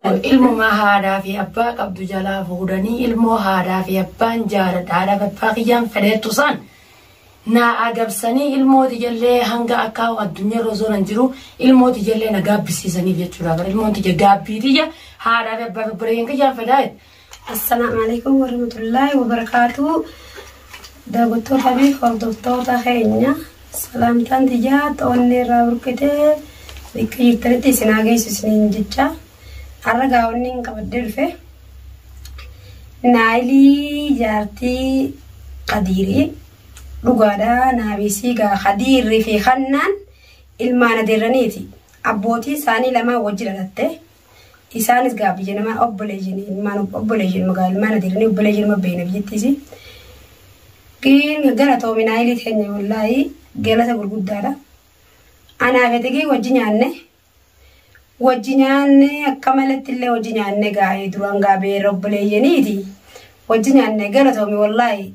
Kun ilmumaa haadhaa fi abbaa qabdu jalaa fuudhanii ilmoo haadhaa fi abbaan jaaladha haadhaa fi abbaa kiyyaan fedheettu san naa adabsanii ilmoo tiyallee hanga akka addunyaarra osoo nan jiru ilmoo tiyallee na gaabbisiisaniif jechuudha bara ilmoon tiyya gaabbii tiyya haadhaa fi abbaa fi obboleeyyan kiyyaan fedhaa Assalaamu Aleykum Warahmatullaahi Wabarakaatuhu Daawwattoota fi hordoftoota keenya salaamtaan tiyyaa ta'onnee irraa burqitee bakka jirtanitti isin haa geessu isiniin jecha har'a gaawonni hin qabaddee dhufe naayilii jaartii qadiirii dhugaadhaa naabiisii gaa qadiirrii fi kannaan ilmaan adeerraniiti abbootii isaanii lamaan wajji dhalatte Isaanis gaa biyya namaa obboleeyyan ilmaan obboleeyyan magaa ilmaan adeeranii obboleeyyan ma beeyna biyyattiisi. Giin galatoomi naayilii keenya wallaahii galata gurguddaadha. Anaa fi xiqii wajji nyaanne wajji nyaanne akka maletti illee wajji nyaanne gaa'ee duraan gaabee obboleeyyaniiti. Wajji nyaanne galatoomi wallaahii.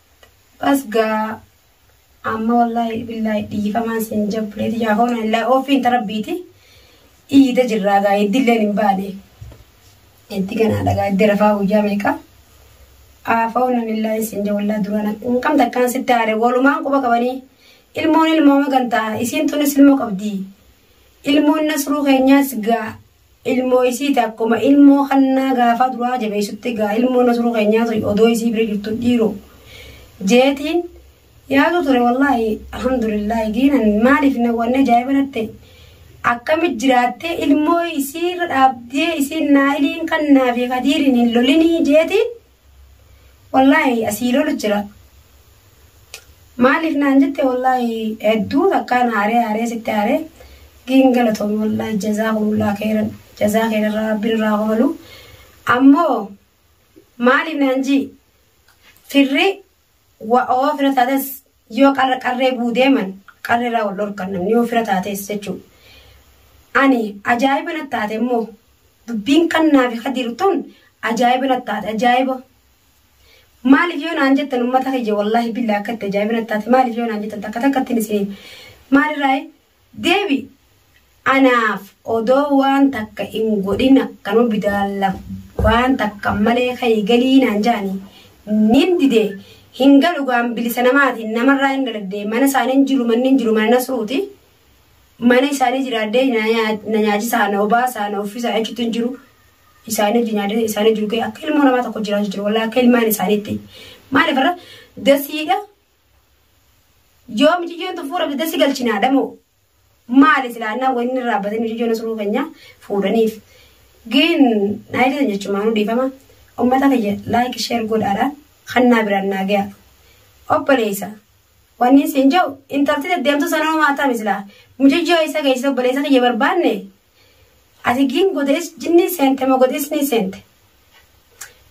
Bas gaa amma wallaahi billaahi dhiifamaan siin jabbulee tiyyaa hoona hin laa ofiin tarabbiiti iyyita jirraa gaa iddilleen hin baane itti ganaadha gaa iddi rafaa guyyaa meeqa aafaa'uun nan illaa hin siin jawallaa duraan hin qabda akkaan sitti aare walumaan quba qabanii ilmoon ilmooma gantaa isiin tunis ilmoo qabdi ilmoon nasruu keenyaas gaa ilmoo isiiti akkuma ilmoo kannaa gaafaa duraa jabeessutti gaa ilmoo nasruu keenyaa sun odoo isii bira jirtu dhiiro jeetiin yaadu ture wallaahi alhamdulillaahi giinan maaliif na wanne ajaa'iba natte akkami jiraattee ilmoo isiirra dhaabdee isiin naayiliin kannaa fi kadiiriin hin lolinii jeetiin wallaahi asii lolu jira maaliif naan jette wallaahi hedduu takkaa na aaree aaree sitti aaree giin galatoomi wallaahi jazaa kumullaa keeran jazaa keerarraa rabbi nurraa hoolu ammoo maaliif naan jii firri Wa, oo fira taates yoo qarra qarree buu deeman qarree irraa wal dhorkan namni yoo fira taates jechuu. Ani ajaa'iba natti taate immoo dubbiin kannaa fi kadiir tun ajaa'iba natti taate ajaa'iba. Maaliif yoo naan jettan ummata kiyya wallaahi billaa akka itti ajaa'iba natti taate maaliif yoo naan jettan takka takka ittiin isin maalirraayi Debi anaaf odoo waan takka in godhin akkanuma bidaalla waan takka malee ka'i galii naan ja'ani nin dide hin galu gaan bilisa namaati namarraa in dhaladhe mana isaanii hin jiru manni hin jiru mana nasruuti mana isaanii jiraadde na nyaachisaa na obaasaa na uffisaa jechuutti hin jiru isaanii wajjin nyaadde isaanii jiru kee akka ilmoo namaa tokko jiraachuu jiru walaa akka ilmaan isaaniitti maaliif irra dasiidha Yoo miciyyoon tun fuula bidda si galchinaadha moo? Maali silaa annaan wayii inni irraa batee miciyyoon asiruu keenya fuudhaniif. Gin naayilii tan jechumaanuu dhiifama. Ummata kiyya laayik sheer godhaadha. Kannaa biraan naa gayaa. Obboleessa. Wanni siin jiru intalti deddeemtuu sana homaa taami silaa. Mucayyoo isa geessisa obboleessa kiyya barbaanne. Ati gin godees jinni seente moo godees ni seente.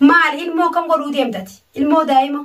Maali ilmoo kam godhuu deemtati? Ilmoo daa'ima.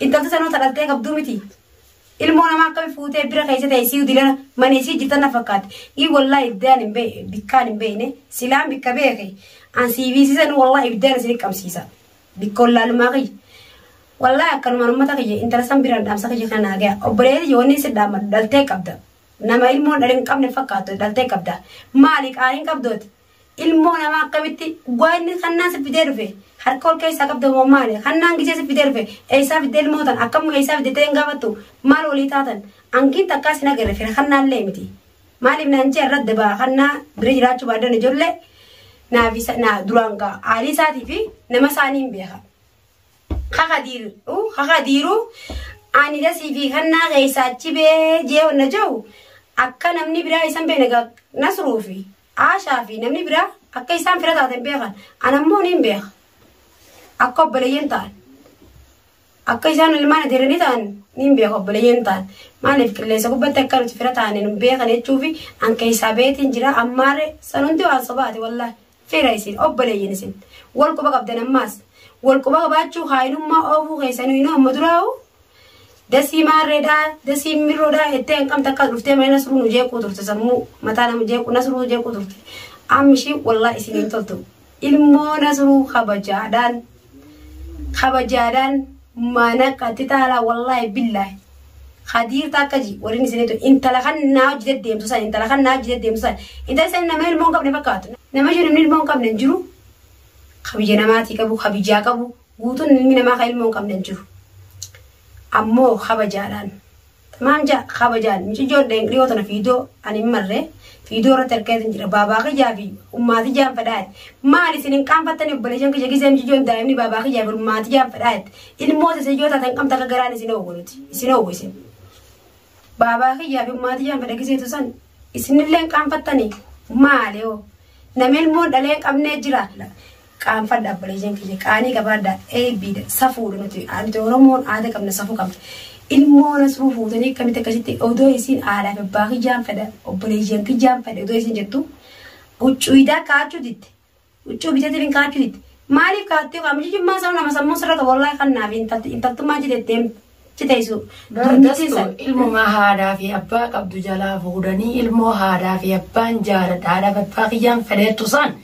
Intalti sanuu ta dhaltee qabduu miti. Ilmoo namaa akkami fuutee bira keessa ta'e siyu dilana mana isii jirtan na fakkaate. Ii wallaa ibdaan hin beekne bikkaan hin beekne silaan bikka beeke an siiviisisan wallaa ibdaan isin qabsiisa. Bikka wallaalumaa kiyya. Wallaa akkanumaan uummata kiyya intala san biraan dhaamsa kiyya kana naagaya. Obboleetti yoo inni si dhaamadhu dhaltee qabda. Nama ilmoon dhalin qabne fakkaatu dhaltee qabda. Maali qaaliin qabdooti? Ilmoo namaa akkamitti dhugaa inni kannaan si fidee dhufe harka ol keessaa qabda moo maali kannaan gisee si fidee dhufe eessaa fidde ilmoo tan akkam eessaa fidde ta'een gaafattu maal walii taatan ankiin takkaa sin agarre fira kannaallee miti maaliif naan jee irratti dabaa kannaa bira jiraachuu baaddan ijoollee naaf isa naa duraan gaa aalii isaatii fi nama isaanii hin beeka. Kakadiiru kakadiiru ani dasii fi kannaa keessaa achi bee jee wanna jiru akka namni biraa isan beena gaa nasruufi. Aashaa fi namni biraa akka isaan fira taatan beekan. Ana immoo niin beeka. Akka obboleeyyan ta'an. Akka isaan ilmaan adeeranii ta'an niin beeka obboleeyyan ta'an. Maaliif qilleensa gubbatti akka nuti fira taane nu beekan jechuufi an keessaa beetiin jira ammaarre san hundi waan sobaati wallaahi. Fira isin obboleeyyan isin. Wal quba qabdan ammaas. Wal quba qabaachuu kaayinummaa oofuu keessanii nu amma duraa'u Dasii maarreedha dasii mirroodha jettee hanqam takka dhuftee mana nasruu nu jeequu turte sammuu mataa nama jeequu nasruu jeequu turte ammishii wallaa isin hin toltu ilmoo nasruu kabajaadhaan kabajaadhaan mana qatti taalaa wallaahi billaahi kadiir takka ji waliin isinitu intala kan naa hojii deddeemtu san intala kan naa hojii deddeemtu san intala san nama ilmoo hin qabne fakkaatu nama jiru ilmoo hin qabne hin jiru kabiyya namaatii qabu kabiyyaa qabu Guutuun ilmi namaa kan ilmoo hin qabne hin jiru. Ammoo kabajaadhaan. Tamaam jaa kabajaan miciyyoon dhiyoo tana fiidoo ani hin marre fiidoo irratti arkeetiin jira baabaa kiyyaa fi ummaatii jaan fedhaa maal isin hin qaanfattani obboleeshan kiyya gisee miciyyoon daa'imni baabaa kiyyaa fi ummaatii jaan fedhaa ilmoo isa yoo taatan qabda akka garaan isin oowwu nuti isin oowwu isin baabaa kiyyaa fi ummaatii jaan fedha giseetu san isinillee hin qaanfattani maali hoo nama ilmoon dhalee hin qabnee jira Qaanfadha obboleeyyan kiyya qaanii qabaadha eebbiidha safuudha nuti nuti oromoon aada qabna safuu qabna ilmoo nasruu fuutanii akkamitti akkasitti odoo isiin haadhaaf abbaa kiyyaan fedha obboleeyyan kiyyaan fedha odoo isiin jettu huccuuyidaa kaachuu ditte huccuu bitatiin kaachuu ditte maaliif kaattee qaama jijjummaa isaa nama sammuu sirra qabu wallaahi kannaaf intaltummaa jiteetteem jiteessu Dandeessu ilmumaa haadhaa fi abbaa qabdu jalaa fuudhanii ilmoo haadhaa fi abbaan jaaladha haadhaa fi abbaa kiyyaan fedheettu isaan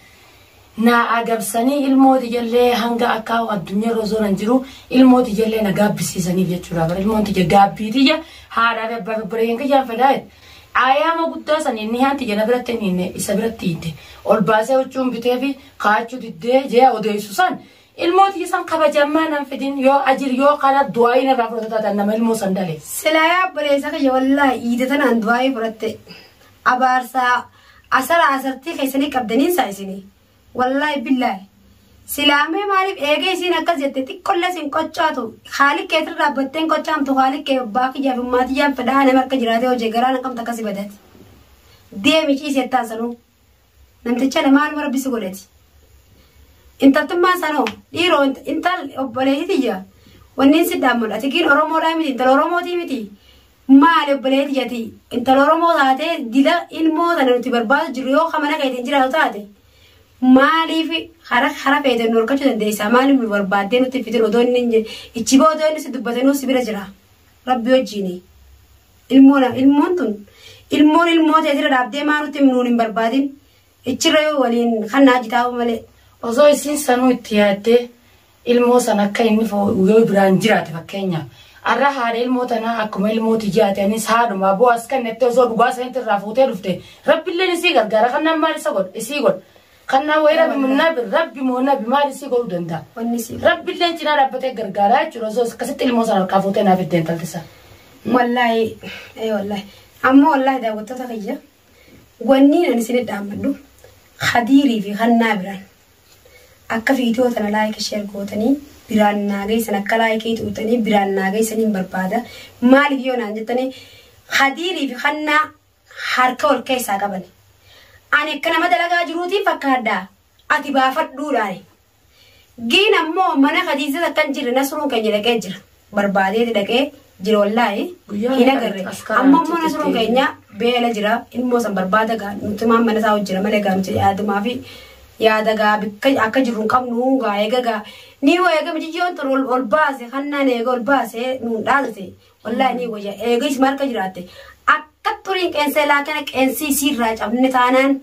Naa agabsanii ilmoo tiyallee hanga akkaa addunyarra osonan jiru ilmoo tiyallee na gaabbisiisaniif jechuudha bar ilmoon tiyya gaabbii tiyya haadhaa fi abbaa fi obboleeyyan kiyyaan fedhaa jedhe ayaama guddaa saniin nihaan tiyya na biratti hin hiinne isa biratti hiitte ol baasee huccuun bitee fi kaachuu diddee jee odeessu san ilmoo tiyya san kabajammaa nan fidin yoo ajir yoo kana du'aayiin irraa fudhata taatan nama ilmoo san dhale. Silaa yaa obboleessa kiyya wallaahi iida tanaan du'aayii fudhatte abaarsaa Asara asartii keessanii qabdaniin saa isinii. Wallaahi billaahi. Silaamee maaliif eegee isiin akkas jette xiqqollee sin qoccaatu haalik keetir dhaabbatteen qoccaamtu haalik kee abbaa kiyyaa fi maatiyyaan fedhaa nama akka jiraatee hojii garaa na qabta akkasi badati. Deemi ciisi jettaan sanuu. Namticha na maaluma rabbi si godhati. Intaltummaan sanoo dhiiroo intal obboleetii tiyya wanniin si dhaammadha tikiin Oromoodhaa miti intal Oromootii miti Maali obboleetti jati intala Oromoo taatee dila ilmoo tana nuti barbaadu jirru yoo ka mana keetiin jiraatu taate maaliif hara hara feeteen nu horkachuu dandeessaa maaliif nu barbaaddee nutti fitin odoo inni hin jir- ichi boo odoo inni si dubbatanuu si bira jira rabbi wajjiini ilmoo na ilmoon tun ilmoon ilmoo teetira dhaabdee maa nutti nuun hin barbaadin ichirra yoo waliin kan naa jitaa'u malee. Osoo isiin sanuu itti yaaddee ilmoo san akka inni fo- yoo biraan jiraate fakkeenyaaf arra haadha ilmoo tanaa akkuma ilmoo tiyyaa ati anis haadhuma aboo as kennettee osoo dhugaa sanitti irraa fuutee dhufte rabbilleen isii gargaara kannaan maal isa godha isii godha kannaan wayii rabbi mo- nabi rabbi moo nabi maal isii godhuu danda'a Wanni si rabbilleen cinaa dhaabbatee gargaaraa jechuudha osoo akkasitti ilmoo sana harkaa fuutee naaf itti intalti sana. wallaahi ee wallaahi amma wallaahi daawwattoota kiyya wanni ani isin dhaammadhu hadiirii fi hannaa biraan Akka video tana like share gootanii biraan naa geessan akka like xuuxanii biraan naa geessan hin barbaada maaliif yoo naan jettanii hadiirii fi hannaa harka wal keessaa qabani ani akka nama dalagaa jiruutiin fakkaadhaa ati baafadhuudhaani giin ammoo mana kadiisas akkan jirre nasruun keenya dhaqee jira barbaadeeti dhaqee jira wallaahi Guyyaa hin meeqa agarre itti as karaa amma immoo achitti nasroon deebi'e? keenya beela jira ilmoo san barbaada gaa nuti maan mana isaa hojjira malee gaa nuti yaadumaa fi yaada gaa bikka akka jirru hin qabnu gaa eega gaa ni wayya eega mijijjoon tun ol ol baase hannaan eega ol baase nuun dhaadate wallaahi ni wayya eega isma harka jiraatte akka xuriin qeensee laakana qeensii siirraa cabne taanaan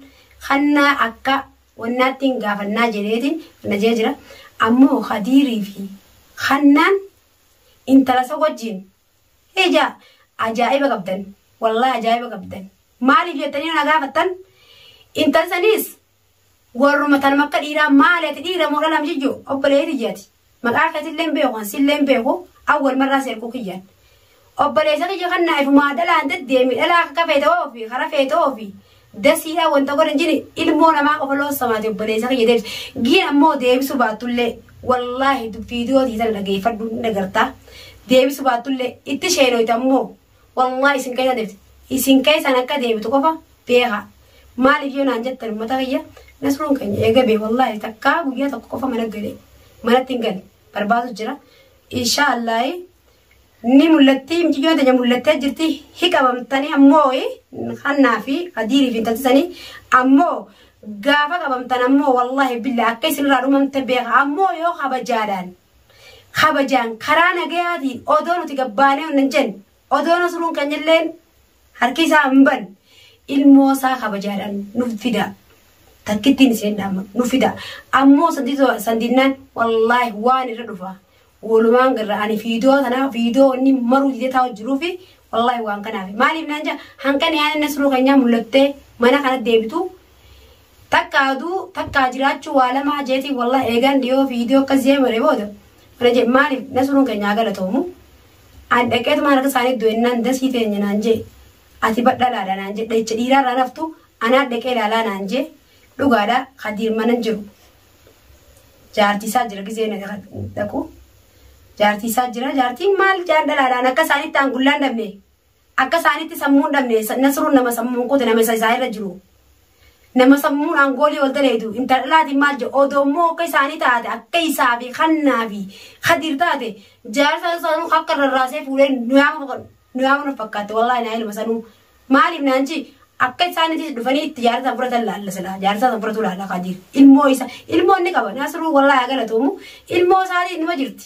hannaa akka wannaattiin gaafannaa jedheetiin najee jira ammoo kadiirii fi hannaan intala san wajjiin hija ajaa'iba qabdan wallahi ajaa'iba qabdan maaliif jettanii na gaafattan intal saniis warruma tanuma akka dhiiraa maali ati dhiira moo dhalam jijju obboleeyti jati Maqaa keetillee hin beeku, kan sillee hin beeku, awwal marraa seerkuu kiyyaan. Obboleessa kiyya kan naa ifumaa dhalaan deddeemi, dhalaa akka akka feete oofi, kara feete oofi. Dasiidhaa wanta godhan jini ilmoo namaa qofa loossamaati obboleessa kiyya deebisa. Giin ammoo deebisuu baattullee wallaahi viidiyoo tiitana dhageeffadhu ni dhagartaa. Deebisuu baattullee itti sheenoyta ammoo Wallahi isin keessa deebiti. Isin keessaan akka deebitu qofa beeka. Maaliif yoo naan jettan uummata kiyya nasruun keenya eega bee wallahi takkaa guyyaa tokko qofa mana galee manatti hin gale barbaadu jira. Inshaa Allaahi ni mul'atti mucayyoon teenya mul'attee jirti hi qabamtanii ammoo hannaa fi adiirii fi intaltisanii ammoo gaafa qabamtan ammoo wallahi billa akka isinirraa dhumamte beeka ammoo yoo kabajaadhaan kabajaan karaa nagayaatiin odoo nuti gabbaanee hundan jenne odoo nasruun keenyalleen harki isaa hin banne ilmoo isaa kabajaadhaan nuuf fidaa takkittiin iseen dhaama nuuf fidaa ammoo sandinnaan wallaahi waan irra dhufa walumaan garra ani fiidoo tanaa fiidoo inni maruu didee taa'u jiruu fi wallaahi waan kanaaf maaliif naan jaa hanqan yaa'in nasruu keenyaa mul'attee mana kana deebitu Takkaa duu takkaa jiraachuu waa lamaa jeetiin wallah eegaan dhiyoo viidiyoo akkas jee mare booda mana jee maaliif nasruun keenya haa galatoomu an dhaqeetumaan harka isaanii du'ennaan dasii teenya naan jee ati badhalaadha naan jee dhahicha dhiiraa irraa naftu anaa dhaqee ilaalaa naan jee dhugaadha kadiir manan jiru jaartii isaa jira gizee na dhaqu jaartii isaa jira jaartiin maal jaan dhalaadhaan akka isaanitti aan gullaan dhabne Akka isaanitti sammuu hin dhabne Nasruun nama sammuun kute nama isa isaa irra jiru. Nama sammuun aangoolii wal daleedu intala dhalaatiin maal jedhu odoo immoo akka isaanii taate akka isaa fi kannaa fi kadiir taate jaarsa sanuu akka rarraasee fuudhee nu yaama nu yaama na fakkaatte wallaahi naa ilma sanuu maaliif naanchi akka isaanitti dhufanii itti jaarsa san fudhatan laalla silaa jaarsa san fudhatu laalla kadiir ilmoo isa ilmoo inni qaba Nasruu wallaahi haa galatoomu ilmoo isaatiin numa jirti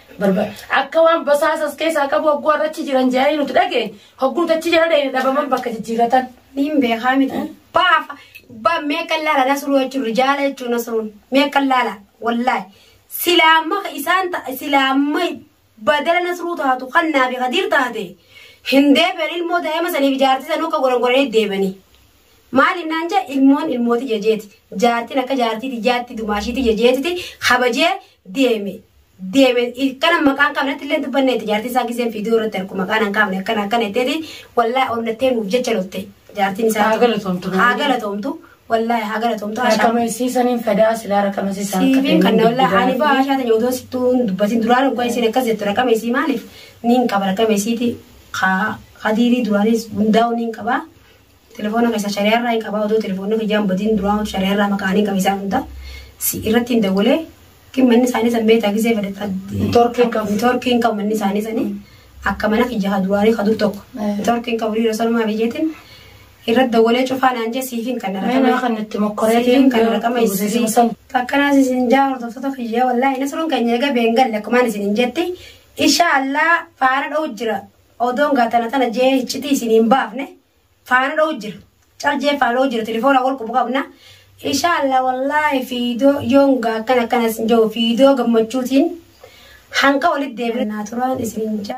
barbaada. Akka waan basaasa as keessaa qabu hogguu arrachi jiran jedhanii nuti dhagee hogguu nuti achi jala dhahine dhabaman bakka jijjiiratan. Niin beekaa miti. Baafa. Ba mee kan laala nasruu jechuun rijaala jechuun nasruun mee kan laala wallaahi. Silaamma isaan ta- silaamma badala nasruu taatu kan naafi kadiir taate hin deebi'an ilmoo daa'ima saniif ijaartii sanuu akka gorongoranii deebanii. Maal innaan jee ilmoon ilmooti jejeeti. Jaartiin akka jaartii tiyyaatti dumaashiitii jejeetiti kabajee deeme. Deeme kana maqaan qabnetti illee dubbanne itti jaartiin isaa giseen fiidiyoo irratti argu maqaan hin qabne akkana akkana itteeti wallaahi onnattee nuuf jecha loltee jaartiin isaa. Haa galatoomtu. Haa galatoomtu. Wallaahi haa galatoomtu. Ashaa. Raqamisiisaniin fadaa silaa raqamisiisaan Siifiin kan wallaa ani baa ashaa ta'e odoo sittuu hin dubbatin duraan dhugaa isiin akkas jettu raqama isii maaliif niin qaba raqama isiiti haa hadiirii duraanis hundaa'u niin qaba Telefoona keessa shariyaa irraa hin qabaa odoo telefoonni kiyyaan badiin duraa shariyaa irraa maqaan hin qabisaa hunda si irratti hin dawwalee kin manni isaanii san beektaa gisee fedhe Torkii hin qabu. torkii hin qabu manni isaanii sanii akka mana kiyya ha duraanii ha dur tokko Mm. torkii hin qabu dhiira sanumaa biyyeetiin irratti dawwalee cufaa naan jee siif hin kanna Mana raqama kan itti mokkoree siif hin kanna raqama isii akkanas isin jaaru tokko kiyya wallaahi nasruun keenya eega beengalle akkumaan isin hin jetti insha allah faana dha'u jira Odoon gaa tana tana jee hiccitii isin hin baafne faana dha'u jira. Cal jee faana dha'u jira telefoona wal qubu qabna. Inshaalla wallaahi fiidoo yoon gaa akkana akkana isin ja'u fiidoo gammachuutiin hanqa walitti deebina naa turaan isin jaa.